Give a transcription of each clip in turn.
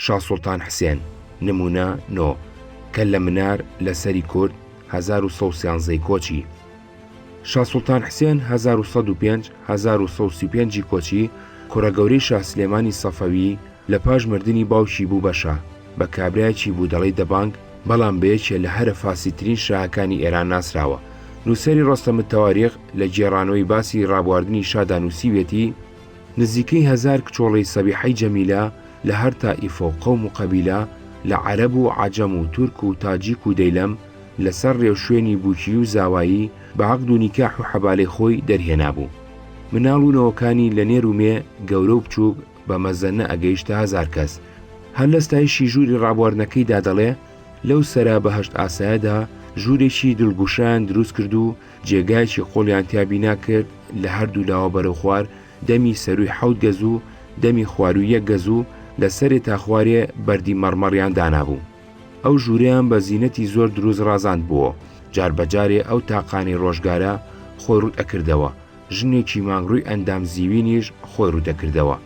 شا سوڵتان حسێن، نموونە نۆ، کە لە منار لە سەری کورد هەزار و سەد و سیانزە ی کۆچی. شا سوڵتان حسێن هەزار و سەد و پێنج هەزار و سەد و سی و پێنج ی کۆچی، کوڕە گەورەی شا سلێمانی سەفەوی، لە پاش مردنی باوکی بوو بە شا، بە کابرایەکی بودەڵەی دەبانگ، بەڵام بە یەکێ لە هەرە فاسیدترین شاهەکانی ئێران ناسراوە. نووسەری ڕۆستەموتەواریخ لە گێڕانەوەی باسی ڕابواردنی شادا نووسیویەتی، نزیکەی هەزار کچۆڵەی سەبیحەی جەمیلە لە هەر تائیفە و قەوم و قەبیلە، لە عەرەب و عەجەم و تورک و تاجیک و دەیلەم، لە سەر رێوشوێنی بووکیی و زاوایی، بە عەقد و نیکاح و حەبالەی خۆی دەرهێنابوو. مناڵ و نەوەکانی لە نێر و مێ، گەورە و بچووک، بە مەزەنە ئەگەیشتە هەزار کەس. هەر لە ستایشی ژووری رابواردنەکەیدا دەڵێ، لەو سەرا بەهەشت ئاسایەدا، ژوورێکی دڵگوشان دروست کرد و جێگایەکی قوڵیان تیا بینا کرد لە هەردوو لاوە بەرەو خوار دەمی سەرووی حەوت گەز و دەمی خوارووی یەک گەز و لە سەرێ تا خوارێ بەردی مەڕمەڕیان دانابوو. ئەو ژوورەیان بە زینەتی زۆر دروست ڕازاند بووەوە. جار بە جارێ ئەو تاقانەی ڕۆژگارە خۆی ڕووت ئەکردەوە، ژنێکی ماگڕووی ئەندام زیوینیش خۆی ڕووت ئەکردەوە.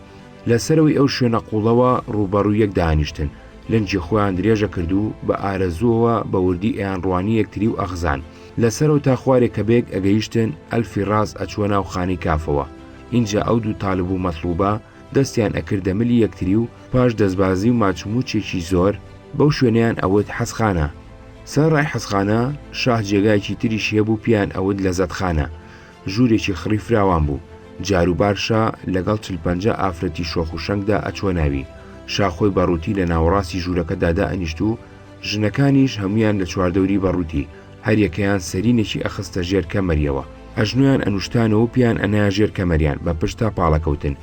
لە سەرەوەی ئەو شوێنە قووڵەوە ڕووبەڕووی یەک دانیشتن، لەنجی خۆیان درێژە کرد و بە ئارەزووەوە بە وردی ئەیانڕوانی یەکتری و ئەخزان. لە سەرەوە تا خوارێ کە بەیەک ئەگەیشتن، ئەلفی ڕاست ئەچووە ناو خانەی کافەوە. ئینجا ئەو دوو تالب و مەتڵووبە دەستیان ئەکردە ملی یەکتری و پاش دەسبازی و ماچمووچێکی زۆر، بەو شوێنەیان ئەوت حەزخانە. سەرەڕای حەزخانە، شاه جێگایەکی تریشی هەبوو پێیان ئەوت لەزەتخانە. ژوورێکی خڕی فراوان بوو، جاروبار شا لەگەڵ چل پەنجا ئافرەتی شۆخ و شەنگدا ئەچووە ناوی. شا خۆی بە ڕووتی لە ناوەڕاستی ژوورەکەدا دائەنیشت و ژنەکانیش هەموویان لە چواردەوری بە ڕووتی، هەر یەکەیان سەرینێکی ئەخستە ژێر کەمەریەوە، ئەژنۆیان ئەنووشتانەوە و پێیان ئەنایە ژێر کەمەریان بە پشت تا پاڵەکەوتن.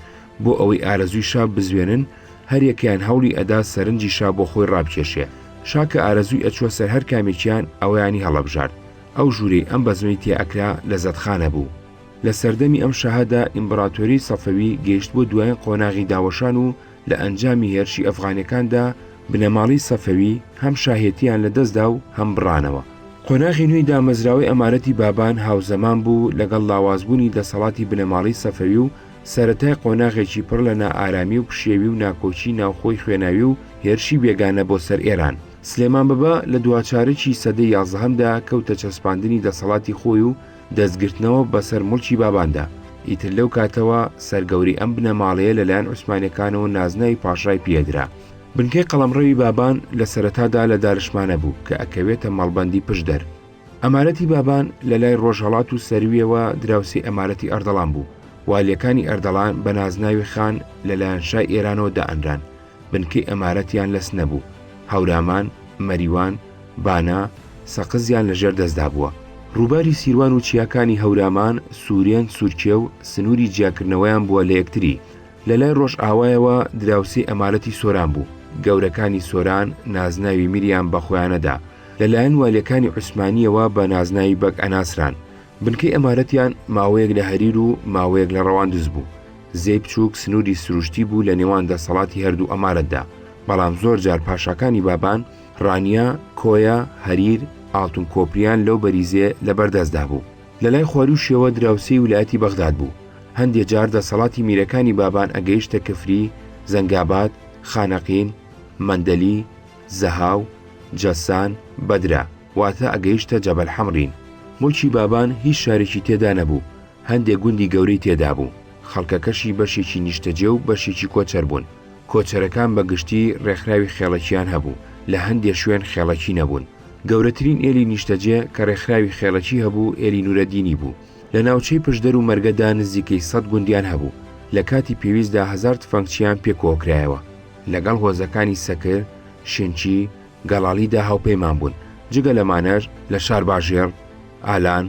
بۆ ئەوەی ئارەزووی شا بزوێنن، هەر یەکەیان هەوڵی ئەدا سەرنجی شا بۆ خۆی ڕابکێشێ. شا کە ئارەزووی ئەچووە سەر هەر کامێکیان، ئەوەیانی هەڵەبژارد. ئەو ژوورەی ئەم بەزمەی تێ ئەکرا لەزەتخانە بوو. لە سەردەمی ئەم شاهدا ئیمبراتۆریی سەفەوی گەیشتبووە دوایین قۆناغی داوەشان و لە ئەنجامی هێرشی ئەفغانەکاندا بنەماڵەی سەفەوی هەم شاهێتییان لە دەست دا و هەم بڕانەوە. قۆناغی نوێی دامەزراوەی ئەمارەتی بابان هاوزەمان بوو لەگەڵ لاوازبوونی دەسەڵاتی بنەماڵەی سەفەوی و سەرەتای قۆناغێکی پڕ لە نائارامی و پشێوی و ناکۆکیی ناوخۆی خوێناوی و هێرشی بێگانە بۆ سەر ئێران. سلێمان بەبە لە دواچارکی سەدەی یازدەهەمدا کەوتە چەسپاندنی دەسەڵاتی خۆی و دەستگرتنەوە بەسەر موڵکی باباندا، ئیتر لەو کاتەوە سەرگەوری ئەم بنەماڵەیە لەلایەن عوسمانیەکانەوە نازناوی پاشای پێدرا. بنکەی قەڵەمڕەوی بابان لە سەرەتادا لە دارشمانە بوو کە ئەکەوێتە مەڵبەندی پشدەر، ئەمارەتی بابان لە لای ڕۆژهەڵات و سەرویەوە دراوسێی ئەمارەتی ئەردەڵان بوو، والیەکانی ئەردەڵان بە نازناوی خان لە لایەن شای ئێرانەوە دائەنران، بنکەی ئەمارەتیان لە سنە بوو، هەورامان، مەریوان، بانە، سەقزیان لە ژێر دەستدا بووە. ڕووباری سیروان و چیاکانی هەورامان، سورێن، سورکێو، سنووری جیاکردنەوەیان بووە لە یەکتری، لە لای ڕۆژئاوایەوە دراوسێی ئەمارەتی سۆران بوو، گەورەکانی سۆران نازناوی میریان بە خۆیانە دا، لە لایەن والیەکانی عوسمانییەوە بە نازناوی بەگ ئەناسران، بنکەی ئەمارەتیان ماوەیەک لە هەریر و ماوەیەک لە ڕەواندز بوو، زێی بچووک سنووری سروشتی بوو لە نێوان دەسەڵاتی هەردوو ئەمارەتدا، بەڵام زۆر جار پاشاکانی بابان، ڕانیە، کۆیە، هەریر، ئاڵتونکۆپریان لەو بەریزێ لە بەردەستدا بوو. لەلای خواروشیەوە دراوسێی ولایەتی بەغداد بوو، هەندێ جار دەسەڵاتی میرەکانی بابان ئەگەیشتە کفری، زەنگاباد، خانەقین، مەندەلی، زەهاو، جەسان، بەدرە، واتە ئەگەیشتە جەبەل حەمرین. مولکی بابان هیچ شارێکی تێدا نەبوو، هەندێ گوندی گەورەی تێدابوو، خەڵکەکەشی بەشێکی نیشتەجێ و بەشێکی کۆچەر بوون، کۆچەرەکان بە گشتی رێکخراوی خێڵەکییان هەبوو، لە هەندێ شوێن خێڵەکی نەبوون، گەورەترین ئێلی نیشتەجێ کە ڕێکخراوی خێڵەکی هەبوو ئێلی نورەدینی بوو. لە ناوچەی پشدەر و مەرگەدا نزیکەی سەد گوندیان هەبوو. لە کاتی پێویستدا هەزار تفەنگچییان پێ کۆکرایەوە. لەگەڵ هۆزەکانی سەکر، شنچی، گەڵاڵیدا هاوپەیمان بوون. جگە لەمانەش، لە شارباژێڕ، ئالان،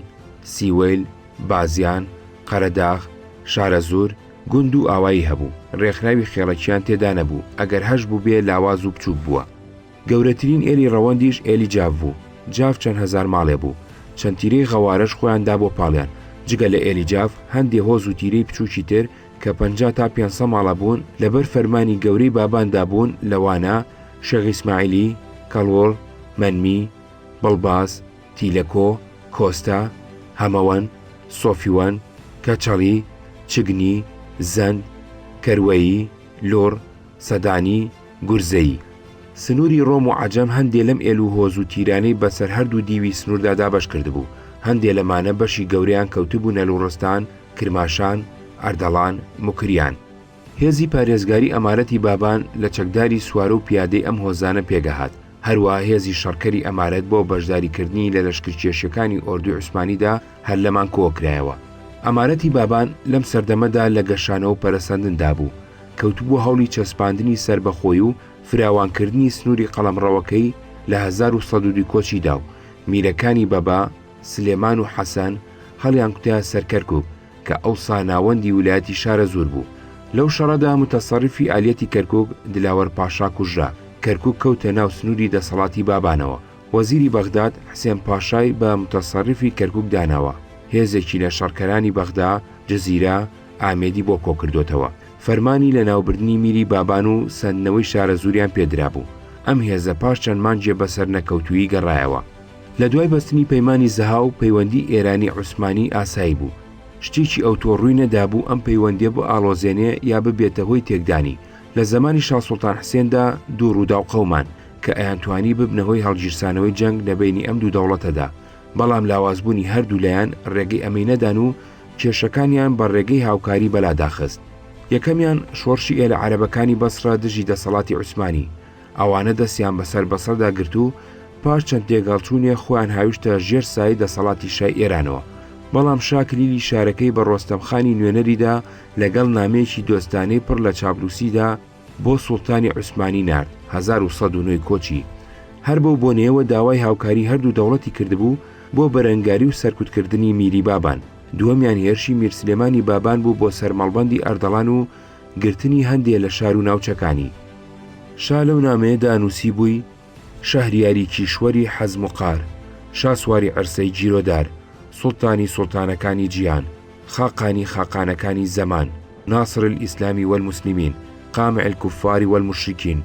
سیوەیل، بازیان، قەرەداغ، شارەزوور، گوند و ئاوایی هەبوو. ڕێکخراوی خێڵەکییان تێدا نەبوو، ئەگەر هەشبووبێ لاواز و بچووک بووە. گەورەترین ئێلی ڕەوەندیش ئێلی جاف بوو، جاف چەند هەزار ماڵێ بوو، چەند تیرەی غەوارەش خۆیان دا بۆ پاڵیان، جگە لە ئێلی جاف هەندێ هۆز و تیرەی بچووکی تر کە پەنجا تا پێنج سە ماڵە بوون لە بەر فەرمانی گەورەی بابان دا بوون لەوانە، شێخ ئیسماعیلی، کەڵوڵ، مەنمی، بڵباس، تیلەکۆ، کۆستە، هەمەوەن، سۆفیوەن، کەچەڵی، چگنی، زەند، کەروەیی، لوڕ، سەدانی، گورزەیی، سنووری ڕۆم و عەجەم هەندێ لەم ئێل و هۆز و تیرانەی بەسەر هەردوو دیوی سنووردا دابەش کردبوو، هەندێ لەمانە بەشی گەورەیان کەوتبوونە لوڕستان، کرماشان، ئەردەڵان، موکریان. هێزی پارێزگاری ئەمارەتی بابان لە چەکداری سوارە و پیادەی ئەم هۆزانە پێگەهات، هەروەها هێزی شەڕکەری ئەمارەت بۆ بەشداریکردنی لە لەشکرکێشیەکانی ئۆردوی عوسمانیدا هەر لەمان کۆکرایەوە. ئەمارەتی بابان لەم سەردەمەدا لە گەشانەوە و پەرەسەندندا بوو، کەوتبووە هەوڵی چەسپاندنی سەربەخۆی و فراوانکردنی سنووری قەڵەمڕەوەکەی لە هەزار و سەد و دوو کۆچیدا و میرەکانی بەبا، سلێمان و حەسەن هەڵیانکوتایە سەر کەرکووک کە ئەوسا ناوەندی ویلایەتی شارەزوور بوو. لەو شەڕەدا موتەسەڕیفی ئالیەتی کەرکووک دلاوەر پاشا کوژرا، کەرکووک کەوتە ناو سنووری دەسەڵاتی بابانەوە، وەزیری بەغداد حسێن پاشای بە موتەسەڕیفی کەرکووک داناوە، هێزێکی لە شەڕکەرانی بەغدا، جزیرە، ئامێدی بۆ کۆکردۆتەوە، فەرمانی لەناوبردنی میری بابان و سەندنەوەی شارەزووریان پێ درابوو، ئەم هێزە پاش چەند مانگێ بە سەرنەکەوتوویی گەڕایەوە. لە دوای بەستنی پەیمانی زەهاو، پەیوەندی ئێرانی عوسمانی ئاسایی بوو، شتێکی ئەوتۆ ڕووی نەدابوو ئەم پەیوەندیە بئاڵۆزێنێ یا ببێتە هۆی تێکدانی، لە زەمانی شا سوڵتان حسێندا دوو ڕووداو قەومان کە ئەیانتوانی ببنە هۆی هەڵگیرسانەوەی جەنگ لە بەینی ئەم دوو دەوڵەتەدا، بەڵام لاوازبوونی هەردوو لایان ڕێگەی ئەمەی نەدان و، کێشەکانیان بە ڕێگەی هاوکاری بەلا داخست، یەکەمیان شۆرشی ئێلە عەرەبەکانی بەسڕە دژی دەسەڵاتی عوسمانی، ئەوانە دەستیان بە سەر بەسڕەدا گرت و پاش چەند تێگەڵچوونێ خۆیان هاویشتە ژێر سایەی دەسەڵاتی شای ئێرانەوە، بەڵام شا کلیلی شارەکەی بە ڕۆستەم خانی نوێنەری دا لە گەڵ نامەیەکی دۆستانەی پڕ لە چاپلووسیدا، بۆ سوڵتانی عوسمانی نارد، هەزار و سەد و نۆ کۆچی هەر بەو بۆنەیەوە داوای هاوکاری هەردوو دەوڵەتی کردبوو بۆ بەرەنگاری و سەرکوتکردنی میری بابان، دووەمیان هێرشی میر سلێمانی بابان بوو بۆ سەر مەڵبەندی ئەردەڵان و گرتنی هەندێ لە شار و ناوچەکانی. شا لەو نامەیەدا نووسیبووی، شەهریاری کیشوەری حەزم و قار، شاسواری عەرسەی گیرۆدار، سوڵتانی سوڵتانەکانی جیهان، خاقانی خاقانەکانی زەمان، ناصر الاسلام والمسلمین، قامع الکفار والمشرکین،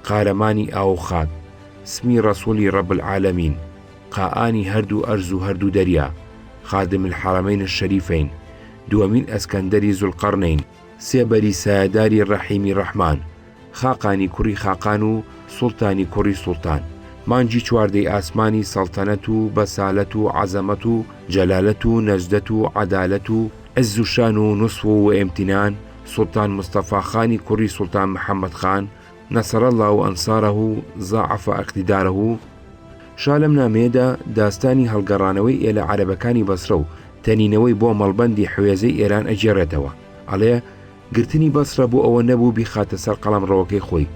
قارەمانی ئاو و خاک، سمی ڕەسوڵی رب العالمین، قائانی هەردوو ئەرز و هەردوو دەریا، خادم الحرمین الشریفین، دووەمین ئەسکەندەری زوڵقەڕنەین، سێبەری سایەداری ڕەحیمی ڕەحمان، خاقانی کوڕی خاقان و سوڵتانی کوڕی سوڵتان، مانگی چواردەی ئاسمانی سەڵتەنەت و بەسالەت و عەزەمەت و جەلالەت و نەجدەت و عەدالەت و عز و شان و نصوو و امتنان، سوڵتان مستەفا خانی کوڕی سوڵتان محمد خان، نصر اللە انصاره و ضاعف اقتداره، شا لەم نامەیەدا داستانی هەڵگەڕانەوەی ئێلە عەرەبەکانی بەسرە و تەنینەوەی بۆ مەڵبەندی حوێزەی ئێران ئەگێڕێتەوە، ئەڵێ، گرتنی بەسرە بۆ ئەوە نەبوو بیخاتە سەر قەڵەمڕەوەکەی خۆی،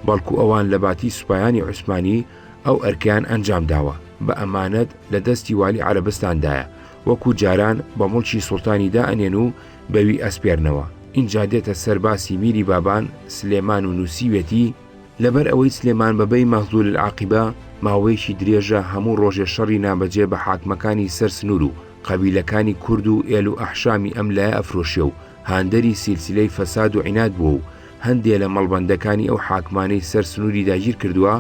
بەڵکو ئەوان لە باتی سوپایانی عوسمانی ئەو ئەرکەیان ئەنجام داوە، بە ئەمانەت لە دەستی والی عەرەبستان دایە، وەکو جاران بە موڵکی سوڵتانی دا ئەنێن و بەوی ئەسپێرنەوە. ئینجا دێتە سەر باسی میری بابان سلێمان و نووسیوێتی، لەبەر ئەوەی سلێمان بەبەی مەغزول العاقبە ماوەیەکی درێژە هەموو ڕۆژێ شەڕی نابەجێ بە حاکمەکانی سەر سنوور و قەبیلەکانی کورد و ئێل و ئەحشامی ئەم لایە ئەفرۆشێ و هاندەری سیلسیلەی فەساد و عیناد بووە و هەندێ لە مەڵبەندەکانی ئەو حاکمانەی سەر سنووری داگیر کردووە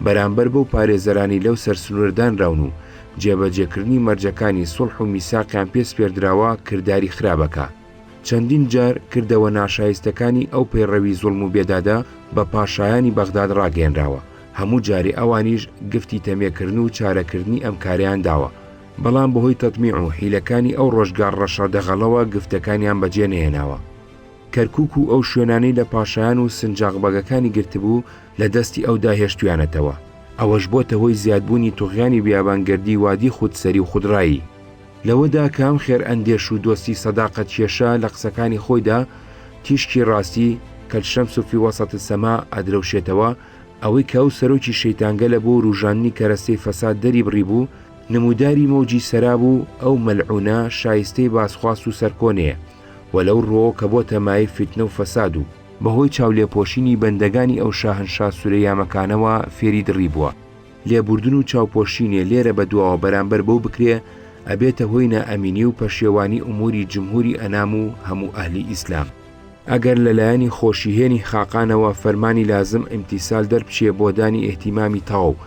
بەرامبەر بەو پارێزەرانی لەو سەر سنوورە دانراون و جێبەجێکردنی مەرجەکانی سوڵح و میساقیان پێ سپێردراوە کرداری خراپەکە چەندین جار کردەوە ناشایستەکانی ئەو پەیڕەوی زوڵم و بێدادە بە پاشایانی بەغداد ڕاگەیەنراوە هەموو جارێ ئەوانیش گفتی تەمێکردن و چارەکردنی ئەم کارەیان داوە بەڵام بەهۆی تەتمیع و حیلەکانی ئەو ڕۆژگار ڕەشە دەغەڵەوە گفتەکانیان بەجێ نەهێناوە. کەرکووک و ئەو شوێنانەی لە پاشایان و سنجاق بەگەکانی گرتبوو لە دەستی ئەودا هێشتویانەتەوە. ئەوەش بۆتە هۆی زیادبوونی توغیانی بیابانگەردی وادی خودسەری و خودڕایی. لەوەدا کە ئەم خێرئەندێش و دۆستی سەداقەت کێشە لە قسەکانی خۆیدا تیشکی ڕاستی، کە الشمس فی وسط السماء، ئەدرەوشێتەوە، ئەوەی کە ئەو سەرۆکی شەیتانگەلە بۆ وروژاندنی کەرەستەی فەساد دەری بڕیبوو، نمووداری مەوجی سەرا بوو، ئەو مەلعوونە شایستەی باسخواست و سەرکۆنەیە و لەو ڕووەوە کە بۆتە مایەی فیتنە و فەساد و، بە هۆی چاولێپۆشینی بەندەگانی ئەو شاهنشا سورەیامەکانەوە فێری دڕی بووە، لێبوردن و چاوپۆشینێ لێرە بە دواوە بەرامبەر بەو بکرێ، ئەبێتە هۆی نائەمینی و پەشێوانی ئومووری جمهووری ئەنام و هەموو ئەهلی ئیسلام. ئەگەر لە لایەنی خۆشیهێنی خاقانەوە فەرمانی لازم ئیمتیسال دەربچێ بۆ دانی ئیهتیمامی تەواو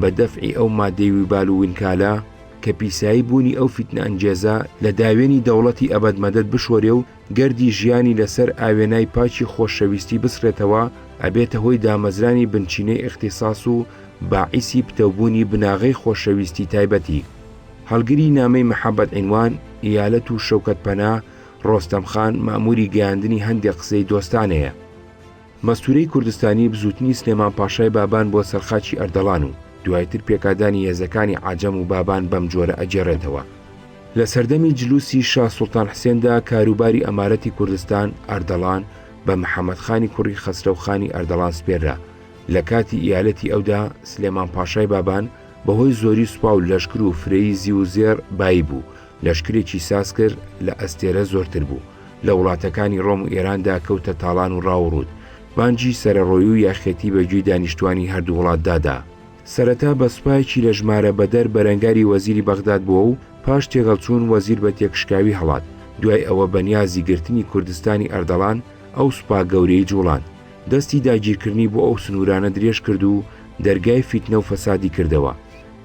بە دەفعی ئەو مادەی ویبال و وینکالە کە پیسایی بوونی ئەو فیتنەئەنگێزە لە داوێنی دەوڵەتی ئەبەد مەدەد بشۆرێ و گردی ژیانی لە سەر ئاوێنای پاکی خۆشەویستی بسڕێتەوە ئەبێتە هۆی دامەزرانی بنچینەی ئیختیساس و باعیسی پتەوبوونی بناغەی خۆشەویستی تایبەتی هەڵگری نامەی مەحەبەت عینوان، ئیالەت و شەوکەت پەنا، ڕۆستەم خان مەئمووری گەیاندنی هەندێ قسەی دۆستانەیە. مەستوورەی کوردستانی بزووتنی سلێمان پاشای بابان بۆ سەر خاکی ئەردەڵان و دوای تر پێکادانی هێزەکانی عەجەم و بابان بەم جۆرە ئەگێڕێتەوە. لە سەردەمی جلووسی شا سوڵتان حسێندا کاروباری ئەمارەتی کوردستان، ئەردەڵان، بە محەمەد خانی کوڕی خەسرەو خانی ئەردەڵان سپێررا. لە کاتی ئیالەتی ئەودا سلێمان پاشای بابان بە هۆی زۆری سوپا و لەشکر و فرەیی زیو و زێڕ بایی بوو لەشکرێکی ساز کرد لە ئەستێرە زۆرتر بوو، لە وڵاتەکانی ڕۆم و ئێراندا کەوتە تاڵان و ڕاو و ڕووت، بانگی سەرەڕۆیی و یاخیەتی بە گوێی دانیشتوانی هەردوو وڵاتدا دا. سەرەتا بە سوپایەکی لە ژمارە بەدەر بەرەنگاری وەزیری بەغداد بووە و پاش تێغەڵچوون وەزیر بە تێکشکاوی هەڵات، دوای ئەوە بە نیازی گرتنی کوردستانی ئەردەڵان ئەو سوپا گەورەی جووڵاند، دەستی داگیرکردنی بۆ ئەو سنوورانە درێژ کرد و دەرگای فیتنە و فەسادی کردەوە،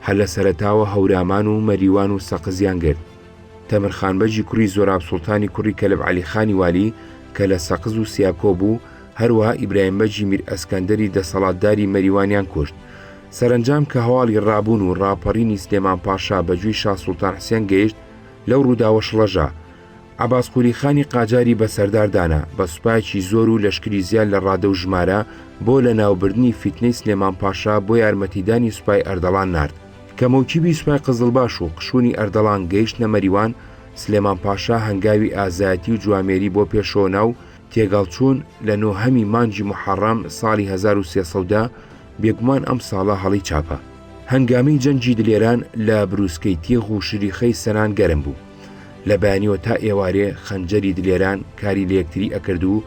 هەر لە سەرەتاوە هەورامان و مەریوان و سەقزیان گرت. تەمر خان بەگی کوڕی زۆراب سوڵتانی کوڕی کەلب عەلی خانی والی کە لە سەقز و سیاکۆ بوو، هەروەها ئیبراهیم بەگی میر ئەسکەندەری دەسەڵاتداری مەریوانیان کوشت. سەرەنجام کە هەواڵی ڕابوون و ڕاپەڕینی سلێمان پاشا بە گوێی شا سوڵتان حسێن گەیشت، لەو ڕووداوە شڵەژا، عەباس قوری خانی قاجاری بە سەردار دانا، بە سوپایەکی زۆر و لەشکری زیاد لە ڕادە و ژمارە، بۆ لە ناوبردنی فیتنەی سلێمان پاشا بۆ یارمەتیدانی سوپای ئەردەڵان نارد. کە مۆکیبی سوپای قزڵباش و قشونی ئەردەڵان گەیشتنە مەریوان، سلێمان پاشا هەنگاوی ئازایەتی و جوامێری بۆ پێشەوە نا و تێگەڵچوون، لە نۆهەمی مانگی موحەڕەم ساڵی هەزار و سێ سەد و دە، بێگومان ئەم ساڵە هەڵی چاپە. هەنگامی جەنگی دلێران لە برووسکەی تیغ و شریخەی سەنان گەرم بوو. لە بەیانیوە تا ئێوارێ خەنجەری دلێران کاری لە یەکتری ئەکرد و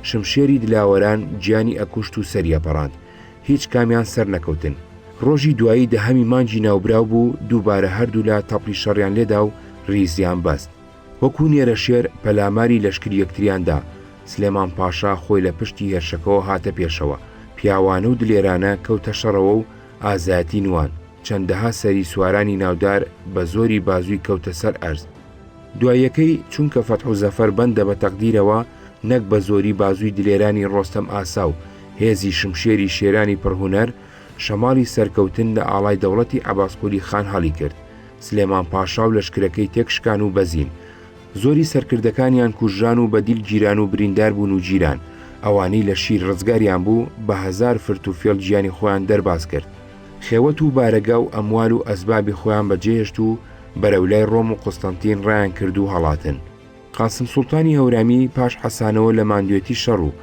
شمشێری دلاوەران گیانی ئەکوشت و سەری ئەپەڕاند هیچ کامیان سەر نەکەوتن ڕۆژی دوایی دەهەمی مانگی ناوبراو بوو دووبارە هەردوولا تەپڵی شەڕیان لێدا و ڕیزیان بەست وەکوو نێرە شێر پەلاماری لەشکری یەکتریان دا سلێمان پاشا خۆی لە پشتی هێرشەکەوە هاتە پێشەوە پیاوانە و دلێرانە کەوتە شەڕەوە و ئازایەتی نوان، چەندەها سەری سوارانی ناودار بە زۆری بازووی کەوتە سەر ئەرز. دواییەکەی چونکە فەتح و زەفەر بەندە بە تەقدیرەوە، نەک بە زۆری بازووی دلێرانی ڕۆستەم ئاسا و هێزی شمشێری شێرانی پڕ هونەر، شەماڵی سەرکەوتن لە ئاڵای دەوڵەتی عەباسقولی خان هەڵیکرد، سلێمان پاشا و لەشکرەکەی تێکشکان و بەزین. زۆری سەرکردەکانیان کوژران و بە دیل گیران و بریندار بوون و گیران، ئەوانەی لە شیر ڕزگاریان بوو بە هەزار فرت و فێڵ گیانی خۆیان دەرباز کرد، خێوەت و بارەگا و ئەموال و ئەسبابی خۆیان بە جێهێشت و بەرەو لای ڕۆم و قوستەنتین ڕایان کرد و هەڵاتن. قاسم سوڵتانی هەورامی پاش حەسانەوە لە ماندوێتی شەڕ و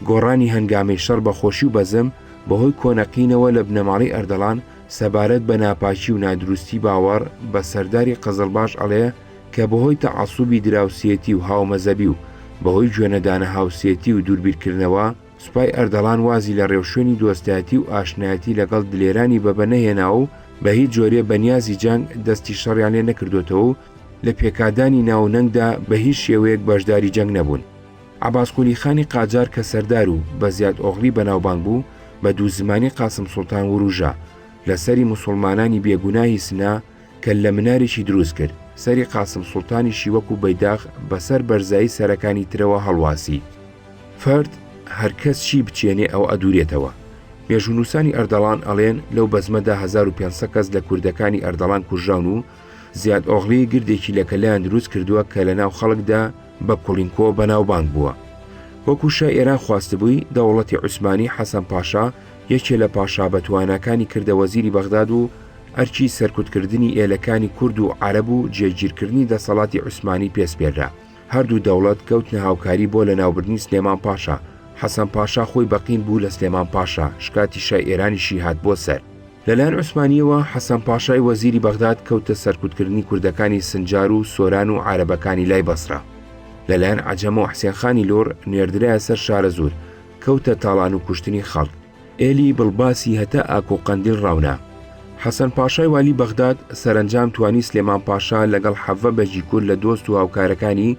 گۆڕانی هەنگامەی شەڕ بە خۆشی و بەزم، بە هۆی کۆنەقینەوە لە بنەماڵەی ئەردەڵان سەبارەت بە ناپاکی و نادروستی باوەڕ بە سەرداری قزڵباش ئەڵێ، کە بەهۆی تەعەسوبی دراوسێتی و هاومەزەبی و بەهۆی گوێنەدانە هاوسێتی و دووربیرکردنەوە، سوپای ئەردەڵان وازی لە ڕێوشوێنی دۆستایەتی و ئاشنایەتی لەگەڵ دلێرانی بەبە نەهێناوە و بە هیچ جۆرێ بە نیازی جەنگ دەستی شەڕیان لێ نەکردۆتەوە و لە پێکادانی ناو و نەنگدا بە هیچ شێوەیەک بەشداری جەنگ نەبوون. عەباس قولی خانی قاجار کە سەردار و بە زیاد ئۆغڵی بەناوبانگ بوو، بە دوو زمانی قاسم سوڵتان ورووژا، لە سەری موسوڵمانانی بێ گوناهی سنە، کەللە مناریشی دروست کرد، سەری قاسم سوڵتانیشی وەکوو بەیداخ بەسەر بەرزایی سەرەکانی ترەوە هەڵواسی. فرد هەر کەس چی بچێنێ ئەوە ئەدوورێتەوە. مێژوونووسانی ئەردەڵان ئەڵێن لەو بەزمەدا هەزار و پێنج سەد کەس لە کوردەکانی ئەردەڵان کوژراون و زیاد ئۆغڵی گردێکی لە کەللەیان دروست کردووە کە لە ناو خەڵکدا بە کوڵینکۆ بەناوبانگ بووە. وەکوو شای ئێران خواستبووی، دەوڵەتی عوسمانی حەسەن پاشا یەکێ لە پاشا بەتواناکانی کردە وەزیری بەغداد و، ئەرکی سەرکوتکردنی ئێلەکانی کورد و عرب و جێگیرکردنی دەسەڵاتی عوسمانی پێسپێررا هەردوو دەوڵەت کەوتنە هاوکاری بۆ لە ناوبردنی سلێمان پاشا حەسەن پاشا خۆی بەقین بوو لە سلێمان پاشا شکاتی شای ئێرانیشی هات بۆ سەر لەلایەن عوسمانیەوە حەسەن پاشای وەزیری بەغداد کەوتە سەرکوتکردنی کوردەکانی سنجار و سۆران و عربەکانی لای بەسرا لەلایەن عجەمە و حسێنخانی لۆر نێردرایە سەر شارە زۆر کەوتە تاڵان و کوشتنی خەڵک ئێلی بڵباسی هەتا ئاک و قەندیل ڕاونا. حەسەن پاشای والی بەغداد سەرەنجام توانی سلێمان پاشا لەگەڵ حەڤە بەگی کورد لە دۆست و هاوکارەکانی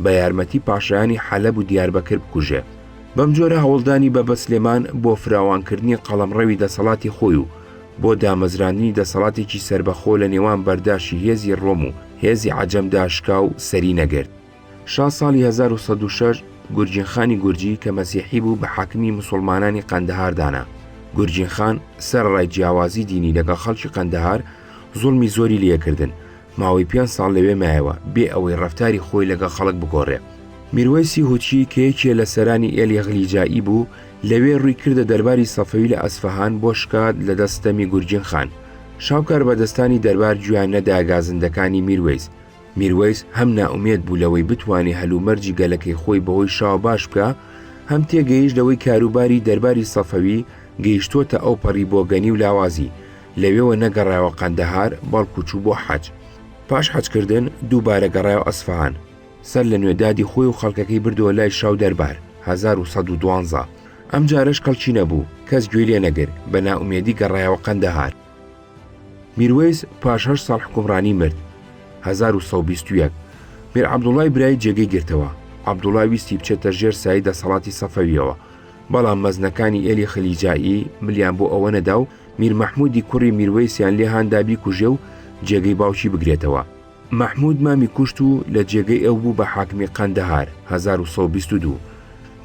بە یارمەتی پاشایانی حەلەب و دیاربەکر بکوژێ. بەم جۆرە هەوڵدانی بە بە سلێمان بۆ فراوانکردنی قەڵەمڕەوی دەسەڵاتی خۆی و بۆ دامەزراندنی دەسەڵاتێکی سەربەخۆ لە نێوان بەرداشی هێزی ڕۆم و هێزی عەجەمدا شکا و سەری نەگرت. شا ساڵی هەزار و سەد و شەش گورجین خانی گورجی کە مەسیحی بوو بە حاکمی مسلمانانی قەندەهار دانا گورجین خان سەرڕای جیاوازی دینی لەگەڵ خەڵکی قەندەهار زوڵمی زۆری لەکردن ماوەی پێ ساڵ لەوێ مایەوە بێ ئەوەی ڕفتاری خۆی لەگەڵ خەڵک بگۆڕێ میروەیسی هوچی کە یەکێ لە سەرانی ئێلی غلیجایی بوو لەوێ ڕووی کردە دەرباری سەفەوی لە ئەسفەهان بۆ شکات لە دەست ستەمی گورجین خان شاو کاربەدەستانی دەربار گوێیان نەدا گازندەکانی میروەیس میروەیس هەم نائومێد بوو لەوەی بتوانێ هەلومەرجی گەلەکەی خۆی بەهۆی شاوە باش بکا، هەم تێگەیشت لەوەی کاروباری دەرباری سەفەوی گەیشتووەتە ئەوپەڕی بۆگەنی و لاوازی، لەوێوە نەگەڕایەوە قەندەهار، بەڵکوو چوو بۆ حەج. پاش حەجکردن دووبارە گەڕایەوە ئەسفەهان. سەر لەنوێ دادی خۆی و خەڵکەکەی بردەوە لای شا و دەربار، هەزار و سەد و دوانزە. ئەمجارەش کەڵکی نەبوو، کەس گوێی لێ نەگرت، بە نائومێدی گەڕایەوە قەندەهار. میروەیس پاش هەشت ساڵ حکومڕانی مرد 1920 میر عەبدوڵای برای جێگەی گرتەوە عەبدوڵا ویستی بچێتە ژێر سای دەسەڵاتی سەفەویەوە بەڵام مەزنەکانی ئێلی خلیجایی ملیان بۆ ئەوە نەدا و میر مححمودی کوڕی میروەیسیان لێهاندا بیکوژێ و جێگەی باوکی بگرێتەوە مححمود مامی کوشت و لە جێگەی ئەو بوو بە حاکمی قەندەهار 1922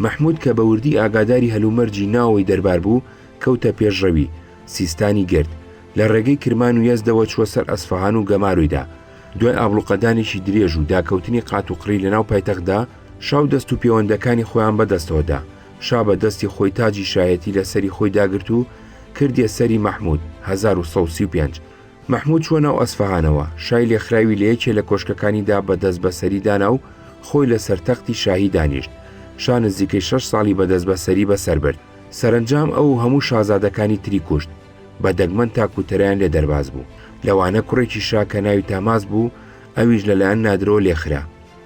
مححمود کە بە وردی ئاگاداری هەلومەرجی ناوەوەی دەربار بوو کەوتە پێشڕەوی سیستانی گرت، لە ڕێگەی کرمان و یەزدەوە چووە سەر ئەسفەهان و گەمارۆیدا. دوای ئابڵوقەدانێکی درێژ و داکەوتنی قات و قڕی لەناو پایتەختدا، شا و دەست و پێوەندەکانی خۆیان بە دەستەوە دا، شا بە دەستی خۆی تاجی شایەتی لە سەری خۆی داگرت و کردیە سەری مەحموود، هەزار و سەد و سی و پێنج. مەحموود چووە ناو ئەسفەهانەوە، شای لێخراوی لە یەکێ لە کۆشکەکانیدا بە دەست بە سەری دانا و خۆی لە سەر تەختی شاهی دانیشت. شا نزیکەی شەش ساڵی بە دەست بە سەری بە سەر برد. سەرەنجام ئەو و هەموو شازادەکانی تری کوشت، بە دەگمەن تا کوتەرەیان لێ دەرباز بوو، لەوانە کوڕێکی شا کە ناوی تاماس بوو، ئەویش لەلایەن نادرەوە لێ خرا،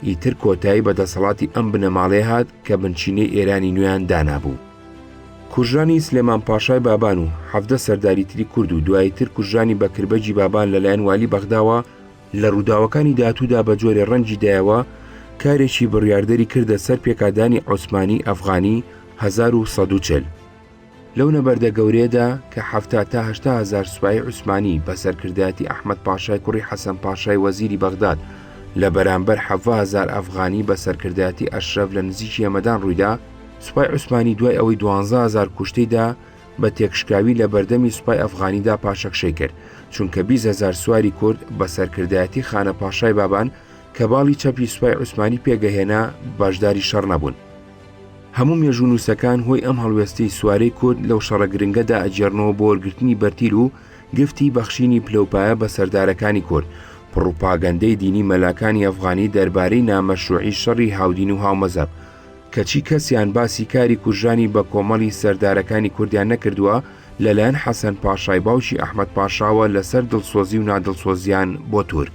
ئیتر کۆتایی بە دەسەڵاتی ئەم بنەماڵەیە هات کە بنچینەی ئێرانی نوێیان دانابوو. کوژرانی سلێمان پاشای بابان و حەڤدە سەرداری تری کورد و دواییتر کوژرانی بەکربەگی بابان لەلایەن والی بەغداوە، لە ڕووداوەکانی داهاتوودا بە جۆرێ ڕەنگی دایەوە، کارێکی بڕیاردەری کردە سەر پێکادانی عوسمانی ئەفغانی هەزار و سەد و چل. لەو نەبەردە گەورەیەدا کە حەفتا تا هەشتا هەزار سوپای عوسمانی بە سەرکردایەتی ئەحمەد پاشای کوڕی حەسەن پاشای وەزیری بەغداد لە بەرانبەر حەڤا هەزار ئەفغانی بە سەرکردایەتی ئەشرەف لە نزیکی هەمەدان ڕوویدا، سوپای عوسمانی دوای ئەوەی دوانزە هەزار کوشتەی دا، بە تێکشکاوی لە بەردەمی سوپای ئەفغانیدا پاشەکشەی کرد، چونکە بیست هەزار سواری کورد بە سەرکردایەتی خانە پاشای بابان کە باڵی چەپی سوپای عوسمانی پێگەهێنا بەشداری شەڕ نەبوون. هەموو مێژوونووسەکان هۆی ئەم هەڵوێستەی سوارەی کورد لەو شەڕە گرنگەدا ئەگێڕنەوە بۆ وەرگرتنی بەرتیل و گفتی بەخشینی پلەوپایە بە سەردارەکانی کورد، پڕوپاگەندەی دینی مەلاکانی ئەفغانی دەربارەی نامەشروعی شەڕی هاودین و هاومەزەب، کەچی کەسیان باسی کاری کوژرانی بە کۆمەڵی سەردارەکانی کوردیان نەکردووە لەلایەن حەسەن پاشای باوکی ئەحمد پاشاوە لەسەر دڵسۆزی و نادڵسۆزیان بۆ تورک.